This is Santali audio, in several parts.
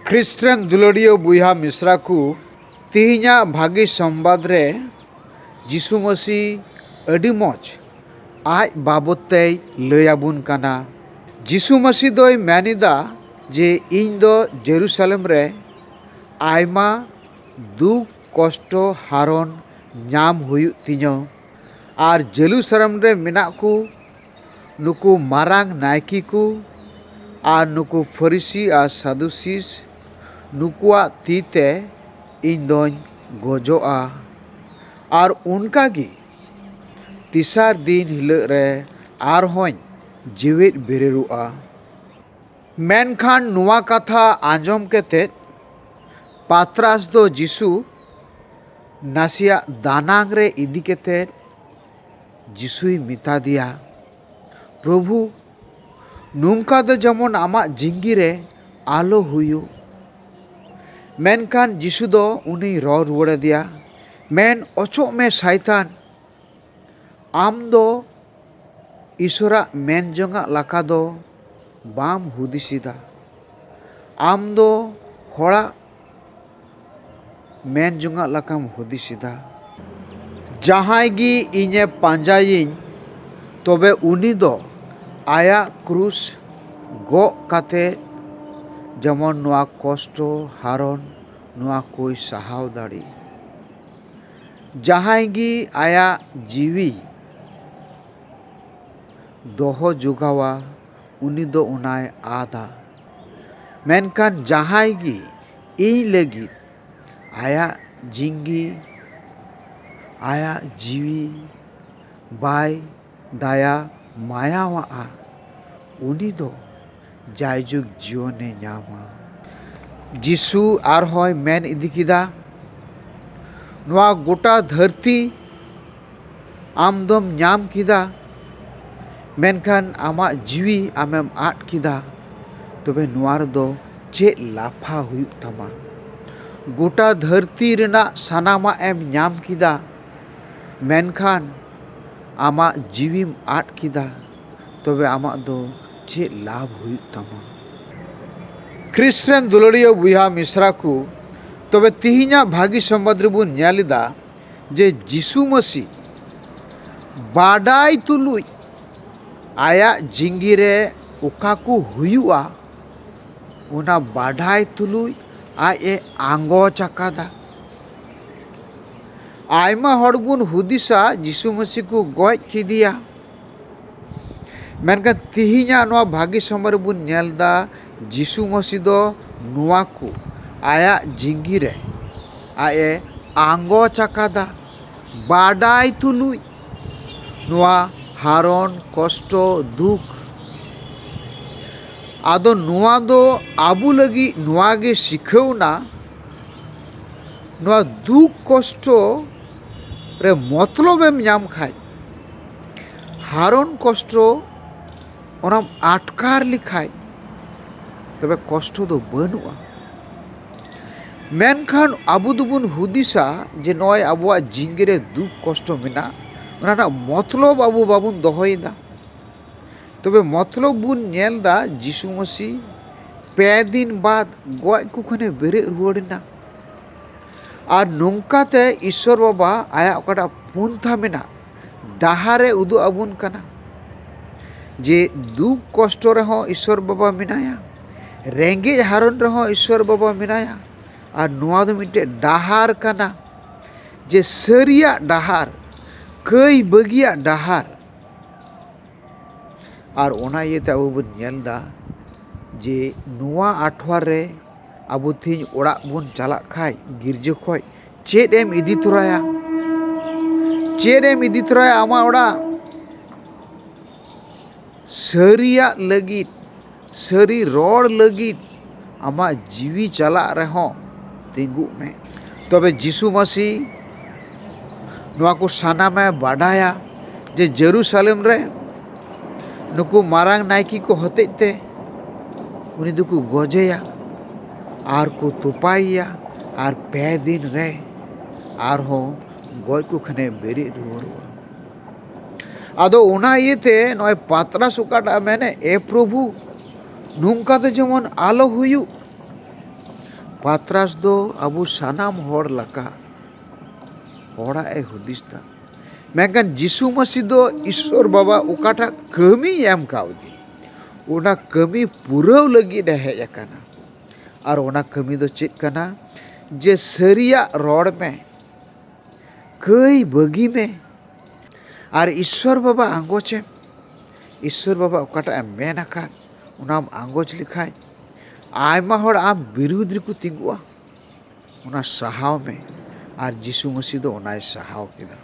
ᱠᱷᱨᱤᱥᱴ ᱨᱮᱱ ᱫᱩᱞᱟᱹᱲᱤᱭᱟᱹ ᱵᱚᱭᱦᱟ ᱢᱤᱥᱨᱟ ᱠᱚ, ᱛᱤᱦᱤᱧᱟᱜ ᱵᱷᱟᱹᱜᱤ ᱥᱚᱢᱵᱟᱫᱽ ᱨᱮ ᱡᱤᱥᱩ ᱢᱟᱹᱥᱤ ᱟᱹᱰᱤ ᱢᱚᱡᱽ ᱟᱡ ᱵᱟᱵᱚᱛ ᱛᱮᱭ ᱞᱟᱹᱭ ᱟᱵᱚᱱ ᱠᱟᱱᱟ᱾ ᱡᱤᱥᱩ ᱢᱟᱹᱥᱤ ᱫᱚᱭ ᱢᱮᱱ ᱮᱫᱟ ᱡᱮ ᱤᱧ ᱫᱚ ᱡᱮᱨᱩᱥᱟᱞᱮᱢ ᱨᱮ ᱟᱭᱢᱟ ᱫᱩᱠ, ᱠᱚᱥᱴᱚ, ᱦᱟᱨᱚᱱ ᱧᱟᱢ ᱦᱩᱭᱩᱜ ᱛᱤᱧᱟᱹ ᱟᱨ ᱡᱮᱞᱩᱥᱟᱨᱮᱢ ᱨᱮ ᱢᱮᱱᱟᱜ ᱠᱚ᱾ ᱱᱩᱠᱩ ᱢᱟᱨᱟᱝ ᱱᱟᱭᱠᱮ ᱠᱚ ᱟᱨ ᱱᱩᱠᱩ ᱯᱷᱟᱹᱨᱤᱥᱤ ᱟᱨ ᱥᱟᱫᱩᱥᱤᱥ ᱱᱩᱠᱩᱣᱟᱜ ᱛᱤ ᱛᱮ ᱤᱧ ᱫᱚᱧ ᱜᱚᱡᱚᱜᱼᱟ ᱟᱨ ᱚᱱᱠᱟ ᱜᱮ ᱛᱮᱥᱟᱨ ᱫᱤᱱ ᱦᱤᱞᱳᱜ ᱨᱮ ᱟᱨ ᱦᱚᱸᱧ ᱡᱮᱣᱮᱫ ᱵᱮᱨᱮᱫᱚᱜᱼᱟ ᱢᱮᱱᱠᱷᱟᱱ ᱱᱚᱣᱟ ᱠᱟᱛᱷᱟ ᱟᱸᱡᱚᱢ ᱠᱟᱛᱮ ᱯᱟᱛᱨᱟᱥ ᱫᱚ ᱡᱤᱥᱩ ᱱᱟᱥᱮᱭᱟᱜ ᱫᱟᱱᱟᱝ ᱨᱮ ᱤᱫᱤ ᱠᱟᱛᱮ ᱡᱤᱥᱩᱭ ᱢᱮᱛᱟ ᱫᱮᱭᱟ, ᱯᱨᱚᱵᱷᱩ, ᱱᱚᱝᱠᱟ ᱫᱚ ᱡᱮᱢᱚᱱ ᱟᱢᱟᱜ ᱡᱤᱝᱜᱤ ᱨᱮ ᱟᱞᱚ ᱦᱩᱭᱩᱜ᱾ ᱢᱮᱱᱠᱷᱟᱱ ᱡᱤᱥᱩ ᱫᱚ ᱩᱱᱤᱭ ᱨᱚᱲ ᱨᱩᱣᱟᱹᱲ ᱟᱫᱮᱭᱟ, ᱢᱮᱱ ᱚᱪᱚᱜ ᱢᱮ ᱥᱟᱭᱛᱟᱱ, ᱟᱢ ᱫᱚ ᱤᱥᱚᱨᱟᱜ ᱢᱮᱱ ᱡᱚᱝᱟᱜ ᱞᱟᱠᱟ ᱫᱚ ᱵᱟᱢ ᱦᱩᱫᱤᱥ ᱮᱫᱟ᱾ ᱟᱢ ᱫᱚ ᱦᱚᱲᱟᱜ ᱢᱮᱱ ᱡᱚᱝᱟᱜ ᱞᱮᱠᱟᱢ ᱦᱩᱫᱤᱥ ᱮᱫᱟ᱾ ᱡᱟᱦᱟᱸᱭ ᱜᱮ ᱤᱧᱮ ᱯᱟᱸᱡᱟᱭᱤᱧ ᱛᱚᱵᱮ ᱩᱱᱤ ᱫᱚ ᱟᱭᱟᱜ ᱠᱨᱩᱥ ᱜᱚᱜ ᱠᱟᱛᱮ ᱡᱮᱢᱚᱱ ᱱᱚᱶᱟ ᱠᱚᱥᱴᱚ ᱦᱟᱨᱚᱱ ᱱᱚᱶᱟ ᱠᱚᱭ ᱥᱟᱦᱟᱣ ᱫᱟᱲᱮᱜ᱾ ᱡᱟᱦᱟᱸᱭ ᱜᱮ ᱟᱭᱟᱜ ᱡᱤᱣᱤᱭ ᱫᱚᱦᱚ ᱡᱚᱜᱟᱣᱟ᱾ ᱩᱱᱤ ᱫᱚ ᱚᱱᱟᱭ ᱟᱫᱟ᱾ ᱢᱮᱱᱠᱷᱟᱱ ᱡᱟᱦᱟᱸᱭ ᱜᱮ ᱤᱧ ᱞᱟᱹᱜᱤᱫ ᱟᱭᱟᱜ ᱡᱤᱝᱜᱤ, ᱟᱭᱟᱜ ᱡᱤᱣᱤ, ᱵᱟᱭ ᱫᱟᱭᱟ ᱢᱟᱭᱟᱣᱟᱜᱼᱟ, ᱩᱱᱤ ᱫᱚ ᱡᱟᱭᱡᱩᱜᱽ ᱡᱤᱭᱚᱱᱮ ᱧᱟᱢᱟ᱾ ᱡᱤᱥᱩ ᱟᱨᱦᱚᱸᱭ ᱢᱮᱱ ᱤᱫᱤ ᱠᱮᱫᱟ, ᱱᱚᱶᱟ ᱜᱚᱴᱟ ᱫᱷᱟᱹᱨᱛᱤ᱾ ᱟᱢ ᱫᱚᱢ ᱧᱟᱢ ᱠᱮᱫᱟ ᱢᱮᱱᱠᱷᱟᱱ ᱟᱢᱟᱜ ᱡᱤᱣᱤ ᱟᱢᱮᱢ ᱟᱫ ᱠᱮᱫᱟ ᱛᱚᱵᱮ ᱱᱚᱣᱟ ᱨᱮᱫᱚ ᱪᱮᱫ ᱞᱟᱯᱷᱟ ᱦᱩᱭᱩᱜ ᱛᱟᱢᱟ ᱜᱳᱴᱟ ᱫᱷᱟᱹᱨᱛᱤ ᱨᱮᱱᱟᱜ ᱥᱟᱱᱟᱢᱟᱜ ᱮᱢ ᱧᱟᱢ ᱠᱮᱫᱟ ᱢᱮᱱᱠᱷᱟᱱ ᱟᱢᱟᱜ ᱡᱤᱣᱤᱢ ᱟᱫ ᱠᱮᱫᱟ ᱛᱚᱵᱮ ᱟᱢᱟᱜ ᱫᱚ ᱪᱮᱫ ᱞᱟᱵᱷ ᱦᱩᱭᱩᱜ ᱛᱟᱢᱟ ᱠᱨᱤᱥ ᱨᱮᱱ ᱫᱩᱞᱟᱹᱲᱤᱭᱟᱹ ᱵᱚᱭᱦᱟ ᱢᱤᱥᱨᱟ ᱠᱚ ᱛᱚᱵᱮ ᱛᱮᱦᱮᱧᱟᱜ ᱵᱷᱟᱹᱜᱤ ᱥᱚᱢᱵᱟᱫ ᱨᱮᱵᱚᱱ ᱧᱮᱞ ᱮᱫᱟ ᱡᱮ ᱡᱤᱥᱩ ᱢᱟᱹᱥᱤ ᱵᱟᱰᱟᱭ ᱛᱩᱞᱩᱡ ᱟᱭᱟᱜ ᱡᱤᱸᱜᱤ ᱨᱮ ᱚᱠᱟ ᱠᱚ ᱦᱩᱭᱩᱜᱼᱟ ᱚᱱᱟ ᱵᱟᱰᱟᱭ ᱛᱩᱞᱩᱡ ᱟᱡ ᱮ ᱟᱸᱜᱚᱪ ᱟᱠᱟᱫᱟ ᱟᱭᱢᱟ ᱦᱚᱲ ᱵᱚᱱ ᱦᱩᱫᱤᱥᱟ ᱡᱤᱥᱩ ᱢᱟᱹᱥᱤ ᱠᱚ ᱜᱚᱡ ᱠᱮᱫᱮᱭᱟ ᱢᱮᱱᱠᱷᱟᱱ ᱛᱮᱦᱮᱧᱟᱜ ᱱᱚᱣᱟ ᱵᱷᱟᱹᱜᱤ ᱥᱚᱢᱚᱭ ᱨᱮᱵᱚᱱ ᱧᱮᱞ ᱮᱫᱟ ᱡᱤᱥᱩ ᱢᱟᱹᱥᱤ ᱫᱚ ᱱᱚᱣᱟ ᱠᱚ ᱟᱭᱟᱜ ᱡᱤᱣᱤ ᱨᱮ ᱟᱡ ᱮ ᱟᱸᱜᱚᱪ ᱟᱠᱟᱫᱟ ᱵᱟᱰᱟᱭ ᱛᱩᱞᱩᱡ ᱱᱚᱣᱟ ᱦᱟᱨᱚᱱ ᱠᱚᱥᱴᱚ ᱫᱩᱠ ᱟᱫᱚ ᱱᱚᱣᱟ ᱫᱚ ᱟᱵᱚ ᱞᱟᱹᱜᱤᱫ ᱱᱚᱣᱟ ᱜᱮ ᱥᱤᱠᱷᱟᱹᱣᱱᱟ ᱱᱚᱣᱟ ᱫᱩᱠ ᱠᱚᱥᱴᱚ ᱨᱮ ᱢᱚᱛᱞᱚᱵ ᱮᱢ ᱧᱟᱢ ᱠᱷᱟᱱ ᱦᱟᱨᱚᱱ ᱠᱚᱥᱴᱚ ᱚᱱᱟᱢ ᱟᱴᱠᱟᱨ ᱞᱮᱠᱷᱟᱱ ᱛᱚᱵᱮ ᱠᱚᱥᱴᱚ ᱫᱚ ᱵᱟᱹᱱᱩᱜᱼᱟ ᱢᱮᱱᱠᱷᱟᱱ ᱟᱵᱚ ᱫᱚᱵᱚᱱ ᱦᱩᱫᱤᱥᱟ ᱡᱮ ᱱᱚᱜᱼᱚᱭ ᱟᱵᱚᱣᱟᱜ ᱡᱤᱣᱤ ᱨᱮ ᱫᱩᱠ ᱠᱚᱥᱴᱚ ᱢᱮᱱᱟᱜᱼᱟ ᱚᱱᱟ ᱨᱮᱱᱟᱜ ᱢᱚᱛᱞᱚᱵ ᱟᱵᱚ ᱵᱟᱵᱚᱱ ᱫᱚᱦᱚᱭᱮᱫᱟ ᱛᱚᱵᱮ ᱢᱚᱛᱞᱚᱵ ᱵᱚᱱ ᱧᱮᱞ ᱮᱫᱟ ᱡᱤᱥᱩ ᱢᱟᱹᱥᱤ ᱯᱮ ᱫᱤᱱ ᱵᱟᱫ ᱜᱚᱡ ᱠᱚ ᱠᱷᱚᱱᱮ ᱵᱮᱨᱮᱫ ᱨᱩᱣᱟᱹᱲ ᱮᱱᱟ ᱟᱨ ᱱᱚᱝᱠᱟ ᱛᱮ ᱤᱥᱥᱚᱨ ᱵᱟᱵᱟ ᱟᱭᱟᱜ ᱚᱠᱟᱴᱟᱜ ᱯᱚᱱᱛᱷᱟ ᱢᱮᱱᱟᱜ ᱰᱟᱦᱟᱨ ᱮ ᱩᱫᱩᱜ ᱟᱵᱚᱱ ᱠᱟᱱᱟ ᱡᱮ ᱫᱩᱠ ᱠᱚᱥᱴᱚ ᱨᱮᱦᱚᱸ ᱤᱥᱥᱚᱨ ᱵᱟᱵᱟ ᱢᱮᱱᱟᱭᱟ ᱨᱮᱸᱜᱮᱡ ᱦᱟᱨᱚᱱ ᱨᱮᱦᱚᱸ ᱤᱥᱥᱚᱨ ᱵᱟᱵᱟ ᱢᱮᱱᱟᱭᱟ ᱟᱨ ᱱᱚᱣᱟ ᱫᱚ ᱢᱤᱫᱴᱮᱡ ᱰᱟᱦᱟᱨ ᱠᱟᱱᱟ ᱡᱮ ᱥᱟᱹᱨᱤᱭᱟᱜ ᱰᱟᱦᱟᱨ ᱠᱟᱹᱭ ᱵᱟᱹᱜᱤᱭᱟᱜ ᱰᱟᱦᱟᱨ ᱟᱨ ᱚᱱᱟ ᱤᱭᱟᱹᱛᱮ ᱟᱵᱚ ᱵᱚᱱ ᱧᱮᱞᱫᱟ ᱡᱮ ᱱᱚᱣᱟ ᱟᱴᱷᱣᱟᱨ ᱨᱮ ᱟᱵᱚ ᱛᱮᱦᱤᱧ ᱚᱲᱟᱜ ᱵᱚᱱ ᱪᱟᱞᱟᱜ ᱠᱷᱟᱱ ᱜᱤᱨᱡᱟᱹ ᱠᱷᱚᱱ ᱪᱮᱫ ᱮᱢ ᱤᱫᱤ ᱛᱚᱨᱟᱭᱟ ᱪᱮᱫ ᱮᱢ ᱤᱫᱤ ᱛᱚᱨᱟᱭᱟ ᱟᱢᱟᱜ ᱚᱲᱟᱜ ᱥᱟᱹᱨᱤᱭᱟᱜ ᱞᱟᱹᱜᱤᱫ ᱥᱟᱹᱨᱤ ᱨᱚᱲ ᱞᱟᱹᱜᱤᱫ ᱟᱢᱟᱜ ᱡᱤᱣᱤ ᱪᱟᱞᱟᱜ ᱨᱮᱦᱚᱸ ᱛᱤᱸᱜᱩᱜ ᱢᱮ ᱛᱚᱵᱮ ᱡᱤᱥᱩ ᱢᱟᱹᱥᱤ ᱱᱚᱣᱟ ᱠᱚ ᱥᱟᱱᱟᱢᱮ ᱵᱟᱰᱟᱭᱟ ᱡᱮ ᱡᱮᱨᱩᱥᱟᱞᱮᱢ ᱨᱮ ᱱᱩᱠᱩ ᱢᱟᱨᱟᱝ ᱱᱟᱭᱠᱮ ᱠᱚ ᱦᱚᱛᱮᱡ ᱛᱮ ᱩᱱᱤ ᱫᱚᱠᱚ ᱜᱚᱡᱮᱭᱟ ᱟᱨ ᱠᱚ ᱛᱚᱯᱟᱭᱮᱭᱟ ᱟᱨ ᱯᱮ ᱫᱤᱱ ᱨᱮ ᱟᱨᱦᱚᱸ ᱜᱚᱡ ᱠᱚ ᱠᱷᱟᱱᱮ ᱵᱮᱨᱮᱫ ᱨᱩᱣᱟᱹᱲᱚᱜᱼᱟ ᱟᱫᱚ ᱚᱱᱟ ᱤᱭᱟᱹᱛᱮ ᱱᱚᱜᱼᱚᱭ ᱯᱟᱛᱨᱟᱥ ᱚᱠᱟᱴᱟᱜ ᱢᱮᱱᱮ ᱮ ᱯᱨᱚᱵᱷᱩ ᱱᱚᱝᱠᱟ ᱫᱚ ᱡᱮᱢᱚᱱ ᱟᱞᱚ ᱦᱩᱭᱩᱜ ᱯᱟᱛᱨᱟᱥ ᱫᱚ ᱟᱵᱚ ᱥᱟᱱᱟᱢ ᱦᱚᱲ ᱞᱮᱠᱟ ᱦᱚᱲᱟᱜ ᱮ ᱦᱩᱫᱤᱥ ᱫᱟ ᱢᱮᱱᱠᱷᱟᱱ ᱡᱤᱥᱩ ᱢᱟᱹᱥᱤ ᱫᱚ ᱤᱥᱥᱚᱨ ᱵᱟᱵᱟ ᱚᱠᱟᱴᱟᱜ ᱠᱟᱹᱢᱤᱭ ᱮᱢ ᱠᱟᱣᱫᱮ ᱚᱱᱟ ᱠᱟᱹᱢᱤ ᱯᱩᱨᱟᱹᱣ ᱞᱟᱹᱜᱤᱫ ᱮ ᱦᱮᱡ ᱟᱠᱟᱱᱟ ᱟᱨ ᱚᱱᱟ ᱠᱟᱹᱢᱤ ᱫᱚ ᱪᱮᱫ ᱠᱟᱱᱟ ᱡᱮ ᱥᱟᱹᱨᱤᱭᱟᱜ ᱨᱚᱲ ᱢᱮ ᱠᱟᱹᱭ ᱵᱟᱹᱜᱤ ᱢᱮ ᱟᱨ ᱤᱥᱥᱚᱨ ᱵᱟᱵᱟ ᱟᱸᱜᱚᱪ ᱮᱢ ᱤᱥᱥᱚᱨ ᱵᱟᱵᱟ ᱚᱠᱟᱴᱟᱜ ᱮ ᱢᱮᱱ ᱟᱠᱟᱫ ᱚᱱᱟᱢ ᱟᱸᱜᱚᱪ ᱞᱮᱠᱷᱟᱱ ᱟᱭᱢᱟ ᱦᱚᱲ ᱟᱢ ᱵᱤᱨᱩᱫᱷ ᱨᱮᱠᱚ ᱛᱤᱸᱜᱩᱜᱼᱟ ᱚᱱᱟ ᱥᱟᱦᱟᱣ ᱢᱮ ᱟᱨ ᱡᱤᱥᱩ ᱢᱟᱹᱥᱤ ᱫᱚ ᱚᱱᱟᱭ ᱥᱟᱦᱟᱣ ᱠᱮᱫᱟ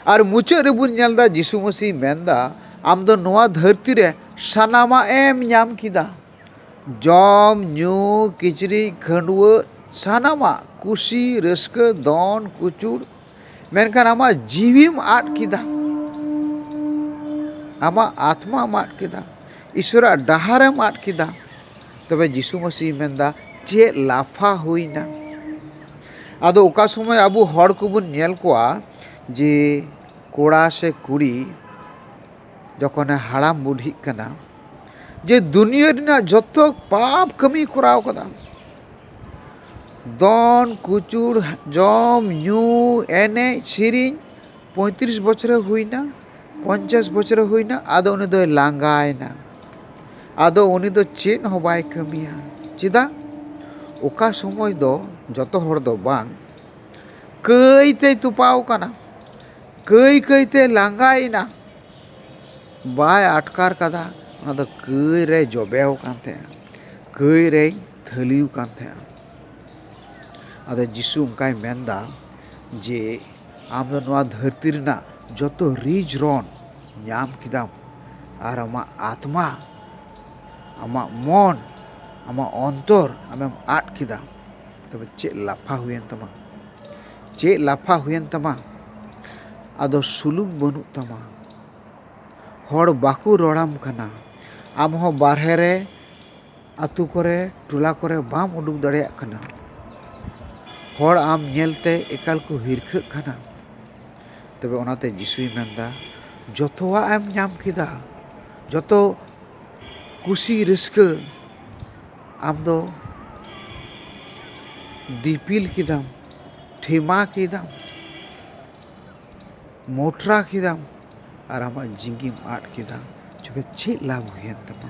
ᱟᱨ ᱢᱩᱪᱟᱹᱫ ᱨᱮᱵᱚᱱ ᱧᱮᱞ ᱮᱫᱟ ᱡᱤᱥᱩ ᱢᱟᱹᱥᱤ ᱢᱮᱱᱫᱟ ᱟᱢ ᱫᱚ ᱱᱚᱣᱟ ᱫᱷᱟᱹᱨᱛᱤ ᱨᱮ ᱥᱟᱱᱟᱢᱟᱜ ᱮᱢ ᱧᱟᱢ ᱠᱮᱫᱟ ᱡᱚᱢ ᱧᱩ ᱠᱤᱪᱨᱤᱡ ᱠᱷᱟᱹᱰᱣᱟᱹᱜ ᱥᱟᱱᱟᱢᱟᱜ ᱠᱩᱥᱤ ᱨᱟᱹᱥᱠᱟᱹ ᱫᱚᱱ ᱠᱩᱪᱩᱲ ᱢᱮᱱᱠᱷᱟᱱ ᱟᱢᱟᱜ ᱡᱤᱣᱤᱢ ᱟᱫ ᱠᱮᱫᱟ ᱟᱢᱟᱜ ᱟᱛᱢᱟᱢ ᱟᱫ ᱠᱮᱫᱟ ᱤᱥᱥᱚᱨᱟᱜ ᱰᱟᱦᱟᱨᱮᱢ ᱟᱫ ᱠᱮᱫᱟ ᱛᱚᱵᱮ ᱡᱤᱥᱩ ᱢᱟᱹᱥᱤᱭ ᱢᱮᱱᱫᱟ ᱪᱮᱫ ᱞᱟᱯᱷᱟ ᱦᱩᱭᱱᱟ ᱟᱫᱚ ᱚᱠᱟ ᱥᱚᱢᱚᱭ ᱟᱵᱚ ᱦᱚᱲ ᱠᱚᱵᱚᱱ ᱧᱮᱞ ᱠᱚᱣᱟ ᱡᱮ ᱠᱚᱲᱟ ᱥᱮ ᱠᱩᱲᱤ ᱡᱚᱠᱷᱚᱱᱮ ᱦᱟᱲᱟᱢ ᱵᱩᱰᱷᱤᱜ ᱠᱟᱱᱟ ᱡᱮ ᱫᱩᱱᱭᱟᱹ ᱨᱮᱱᱟᱜ ᱡᱚᱛᱚ ᱯᱟᱯ ᱠᱟᱹᱢᱤᱭ ᱠᱚᱨᱟᱣ ᱠᱟᱫᱟ ᱫᱚᱱ ᱠᱩᱪᱩᱲ ᱡᱚᱢ ᱧᱩ ᱮᱱᱮᱡ ᱥᱮᱨᱮᱧ ᱯᱚᱸᱭᱛᱨᱤᱥ ᱵᱚᱪᱷᱚᱨᱮ ᱦᱩᱭᱱᱟ ᱯᱚᱧᱪᱟᱥ ᱵᱚᱪᱷᱚᱨᱮ ᱦᱩᱭᱱᱟ ᱟᱫᱚ ᱩᱱᱤ ᱫᱚᱭ ᱞᱟᱸᱜᱟᱭᱮᱱᱟ ᱟᱫᱚ ᱩᱱᱤ ᱫᱚ ᱪᱮᱫ ᱦᱚᱸ ᱵᱟᱭ ᱠᱟᱹᱢᱤᱭᱟ ᱪᱮᱫᱟᱜ ᱚᱠᱟ ᱥᱚᱢᱚᱭ ᱫᱚ ᱡᱚᱛᱚ ᱦᱚᱲ ᱫᱚ ᱵᱟᱝ ᱠᱟᱹᱭ ᱛᱮᱭ ᱛᱚᱯᱟᱣ ᱠᱟᱱᱟ ᱠᱟᱹᱭ ᱠᱟᱹᱭ ᱛᱮ ᱞᱟᱸᱜᱟᱭᱮᱱᱟ ᱵᱟᱭ ᱟᱴᱠᱟᱨ ᱠᱟᱫᱟ ᱚᱱᱟ ᱫᱚ ᱠᱟᱹᱭ ᱨᱮᱭ ᱡᱚᱵᱮᱣ ᱠᱟᱱ ᱛᱟᱦᱮᱸᱜᱼᱟ ᱠᱟᱹᱭ ᱨᱮᱭ ᱛᱷᱟᱹᱞᱤ ᱟᱠᱟᱱ ᱛᱟᱦᱮᱸᱱᱟ ᱟᱫᱚ ᱡᱤᱥᱩ ᱚᱱᱠᱟᱭ ᱢᱮᱱ ᱮᱫᱟ ᱡᱮ ᱟᱢ ᱫᱚ ᱱᱚᱶᱟ ᱫᱷᱟᱹᱨᱛᱤ ᱨᱮᱱᱟᱜ ᱡᱚᱛᱚ ᱨᱤᱡ ᱨᱚᱱ ᱧᱟᱢ ᱠᱮᱫᱟᱢ ᱟᱨ ᱟᱢᱟᱜ ᱟᱛᱢᱟ ᱟᱢᱟᱜ ᱢᱚᱱ ᱟᱢᱟᱜ ᱚᱱᱛᱚᱨ ᱟᱢᱮᱢ ᱟᱫ ᱠᱮᱫᱟ ᱛᱚᱵᱮ ᱪᱮᱫ ᱞᱟᱯᱷᱟ ᱦᱩᱭᱮᱱ ᱛᱟᱢᱟ ᱪᱮᱫ ᱞᱟᱯᱷᱟ ᱦᱩᱭᱮᱱ ᱛᱟᱢᱟ ᱟᱫᱚ ᱥᱩᱞᱩᱠ ᱵᱟᱹᱱᱩᱜ ᱛᱟᱢᱟ ᱦᱚᱲ ᱵᱟᱠᱚ ᱨᱚᱲᱟᱢ ᱠᱟᱱᱟ ᱟᱢ ᱦᱚᱸ ᱵᱟᱨᱦᱮ ᱨᱮ ᱟᱹᱛᱩ ᱠᱚᱨᱮ ᱴᱚᱞᱟ ᱠᱚᱨᱮ ᱵᱟᱢ ᱩᱰᱩᱠ ᱫᱟᱲᱮᱭᱟᱜ ᱠᱟᱱᱟ ᱦᱚᱲ ᱟᱢ ᱧᱮᱞ ᱛᱮ ᱮᱠᱟᱞ ᱠᱚ ᱦᱤᱨᱠᱷᱟᱹᱜ ᱠᱟᱱᱟ ᱛᱚᱵᱮ ᱚᱱᱟᱛᱮ ᱡᱤᱥᱩᱭ ᱢᱮᱱᱫᱟ ᱡᱚᱛᱚᱣᱟᱜ ᱮᱢ ᱧᱟᱢ ᱠᱮᱫᱟ ᱡᱚᱛᱚ ᱠᱩᱥᱤ ᱨᱟᱹᱥᱠᱟᱹ ᱟᱢ ᱫᱚ ᱫᱤᱯᱤᱞ ᱠᱮᱫᱟᱢ ᱴᱷᱮᱢᱟ ᱠᱮᱫᱟᱢ ᱢᱚᱴᱨᱟ ᱠᱮᱫᱟᱢ ᱟᱨ ᱟᱢᱟᱜ ᱡᱤᱣᱤᱢ ᱟᱫ ᱠᱮᱫᱟ ᱛᱚᱵᱮ ᱪᱮᱫ ᱞᱟᱵᱷ ᱦᱩᱭᱮᱱ ᱛᱟᱢᱟ